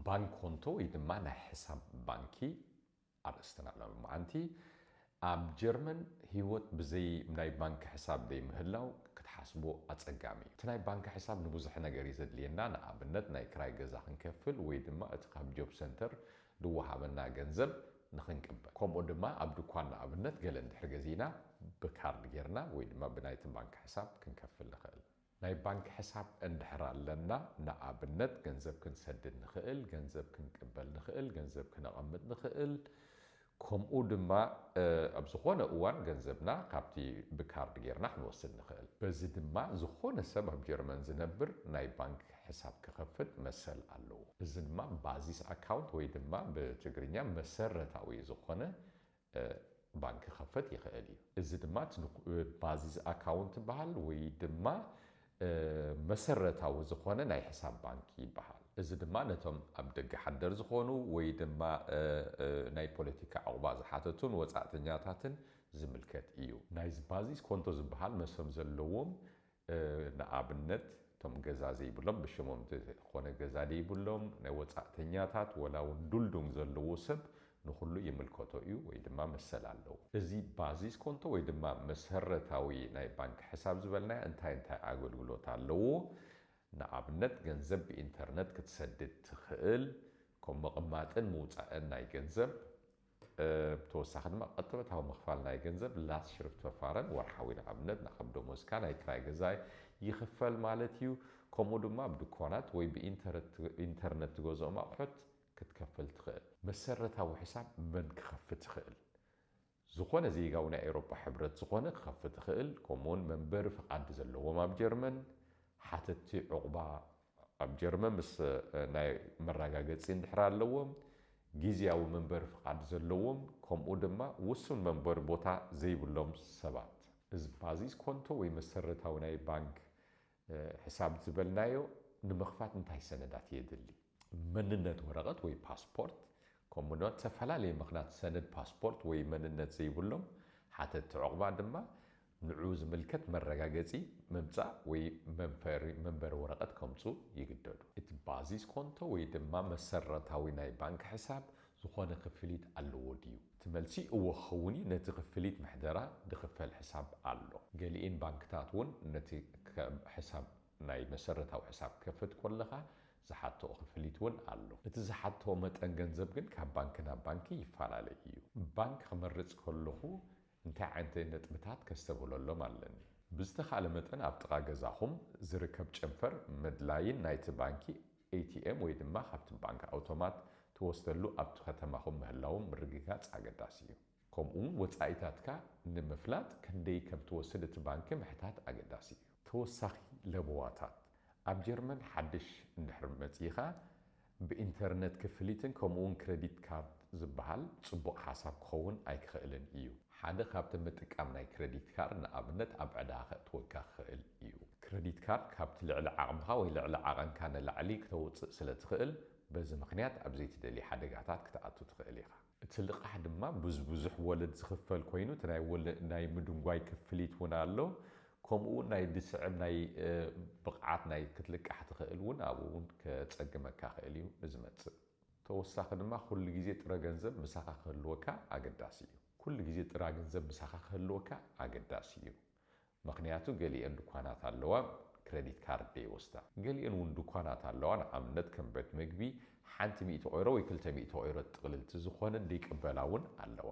ባንኮንቶ ወይ ድማ ናይ ሕሳብ ባንኪ ኣርእስትና ሎ መዓንቲ ኣብ ጀርመን ህይወት ብዘይ ናይ ባንኪ ሕሳብ ዘይምህላው ክትሓስቦ ኣጸጋሚ እዩ እቲ ናይ ባንኪ ሕሳብ ንብዙሕ ነገር እዩ ዘድልየና ንኣብነት ናይ ክራይ ገዛ ክንከፍል ወይ ድማ እቲ ካብ ጆብ ሰንተር ድወሃበና ገንዘብ ንኽንቅበል ከምኡ ድማ ኣብ ድኳን ንኣብነት ገለ እንድሕር ገዚእና ብካርድ ጌርና ወይ ድማ ብናይቲ ባንክ ሕሳብ ክንከፍል ንኽእል። ናይ ባንክ ሕሳብ እንድሕር ኣለና ንኣብነት ገንዘብ ክንሰድድ ንኽእል፣ ገንዘብ ክንቅበል ንኽእል፣ ገንዘብ ክነቐምጥ ንኽእል ከምኡ ድማ ኣብ ዝኾነ እዋን ገንዘብና ካብቲ ብካርድ ጌርና ክንወስድ ንኽእል። በዚ ድማ ዝኾነ ሰብ ኣብ ጀርመን ዝነብር ናይ ባንክ ሕሳብ ክኸፍት መሰል ኣለዎ። እዚ ድማ ባዚስ ኣካውንት ወይ ድማ ብትግርኛ መሰረታዊ ዝኾነ ባንክ ክኸፈት ይኸእል እዩ። እዚ ድማ ባዚስ ኣካውንት ይበሃል ወይ ድማ መሰረታዊ ዝኾነ ናይ ሕሳብ ባንክ ይበሃል። እዚ ድማ ነቶም ኣብ ደገ ሓደር ዝኾኑ ወይ ድማ ናይ ፖለቲካ ዑቕባ ዝሓተቱን ወጻእተኛታትን ዝምልከት እዩ። ናይዚ ባዚስ ኮንቶ ዝበሃል መስም ዘለዎም ንኣብነት እቶም ገዛ ዘይብሎም ብሽሞም ዘይኮነ ገዛ ዘይብሎም ናይ ወጻእተኛታት ወላ ውን ዱልዱም ዘለዎ ሰብ ንኹሉ ይምልከቶ እዩ ወይ ድማ መሰል ኣለዎ። እዚ ባዚስ ኮንቶ ወይ ድማ መሰረታዊ ናይ ባንክ ሕሳብ ዝበልናዮ እንታይ እንታይ ኣገልግሎት ኣለዎ? ንኣብነት ገንዘብ ብኢንተርነት ክትሰድድ ትኽእል፣ ከም ምቕማጥን ምውጻእን ናይ ገንዘብ፣ ብተወሳኺ ድማ ቅጥበታዊ ምኽፋል ናይ ገንዘብ፣ Lastschriftverfahren፣ ወርሓዊ ንኣብነት ን ከም ደሞዝካ ናይ ክራይ ገዛይ ይኽፈል ማለት እዩ። ከምኡ ድማ ኣብ ድኳናት ወይ ብኢንተርነት ትገዝኦም ኣቑሑት ክትከፍል ትኽእል። መሰረታዊ ሕሳብ መን ክኸፍት ይኽእል? ዝኾነ ዜጋዊ ናይ ኤውሮጳ ሕብረት ዝኾነ ክኸፍት ይኽእል፣ ከምኡውን መንበሪ ፍቓድ ዘለዎም ኣብ ጀርመን፣ ሓተትቲ ዑቕባ ኣብ ጀርመን ምስ ናይ መራጋገጺ እንድሕር ኣለዎም፣ ጊዚያዊ መንበሪ ፍቓድ ዘለዎም ከምኡ ድማ ውሱን መንበሪ ቦታ ዘይብሎም ሰባት። እዚ ባዚስ ኮንቶ ወይ መሰረታዊ ናይ ባንክ ሕሳብ ዝበልናዮ ንምኽፋት እንታይ ሰነዳት የድሊ? መንነት ወረቐት ወይ ፓስፖርት ከምኡ ድማ ብተፈላለየ ምኽናት ሰነድ ፓስፖርት ወይ መንነት ዘይብሎም ሓተትቲ ዑቕባ ድማ ንዕኡ ዝምልከት መረጋገጺ ምምጻእ ወይ መንበሪ ወረቐት ከምጹ ይግደዱ። እቲ ባዚስ ኮንቶ ወይ ድማ መሰረታዊ ናይ ባንክ ሕሳብ ዝኾነ ክፍሊት ኣለዎ ድዩ? እቲ መልሲ እወ ክኸውን እዩ፣ ነቲ ክፍሊት ምሕደራ ድኽፈል ሕሳብ ኣሎ። ገሊኤን ባንክታት እውን ነቲ ሕሳብ ናይ መሰረታዊ ሕሳብ ክትከፍት ኮለኻ ዝሓትኦ ክፍሊት እውን ኣሎ። እቲ ዝሓትኦ መጠን ገንዘብ ግን ካብ ባንኪ ናብ ባንኪ ይፈላለ እዩ። ባንክ ክመርጽ ከለኹ እንታይ ዓይነተይ ነጥብታት ከስተብህለሎም ኣለኒ? ብዝተኻእለ መጠን ኣብ ጥቓ ገዛኹም ዝርከብ ጨንፈር መድላይን ናይቲ ባንኪ ኤቲኤም ወይ ድማ ካብቲ ባንክ ኣውቶማት ትወስደሉ ኣብቲ ከተማኹም ምህላዎም ምርግጋጽ ኣገዳሲ እዩ። ከምኡ'ውን ወጻኢታትካ ንምፍላጥ ክንደይ ከም ትወስድ እቲ ባንኪ ምሕታት ኣገዳሲ እዩ። ተወሳኺ ለበዋታት፣ ኣብ ጀርመን ሓድሽ እንድሕር መጺእኻ ብኢንተርነት ክፍሊትን ከምኡ'ውን ክረዲት ካርድ ዝበሃል ጽቡቕ ሓሳብ ክኸውን ኣይክኸእልን እዩ። ሓደ ካብቲ ምጥቃም ናይ ክረዲት ካርድ ንኣብነት ኣብ ዕዳ ከእትወካ ክኸእል እዩ። ክረዲት ካርድ ካብቲ ልዕሊ ዓቕምኻ ወይ ልዕሊ ዓቐንካ ንላዕሊ ክተውጽእ ስለትኸእል በዚ ምኽንያት ኣብ ዘይትደልዮ ሓደጋታት ክትኣቱ ትኸእል ኢኻ። እቲ ልቓሕ ድማ ብዝብዙሕ ወለድ ዝኽፈል ኮይኑ እቲ ናይ ወለድ ናይ ምድንጓይ ክፍሊት እውን ኣሎ። ከምኡ እውን ናይ ድስዕብ ናይ ብቕዓት ናይ ክትልቃሕ ትኽእል እውን ኣብኡ እውን ከጸግመካ ይኽእል እዩ ንዝመጽእ። ተወሳኺ ድማ ኩሉ ግዜ ጥረ ገንዘብ ምሳኻ ክህልወካ ኣገዳሲ እዩ። ኩሉ ግዜ ጥራ ገንዘብ ምሳኻ ክህልወካ ኣገዳሲ እዩ። ምኽንያቱ ገሊኤን ድኳናት ኣለዋ ክረዲት ካርድ ደይወስዳ። ገሊኤን ውን ድኳናት ኣለዋ ንኣብነት ከም ቤት ምግቢ ሓንቲ ሚእቲ ኦይሮ ወይ ክልተ ሚእቲ ኦይሮ ጥቕልልቲ ዝኾነ ደይቅበላ ውን ኣለዋ።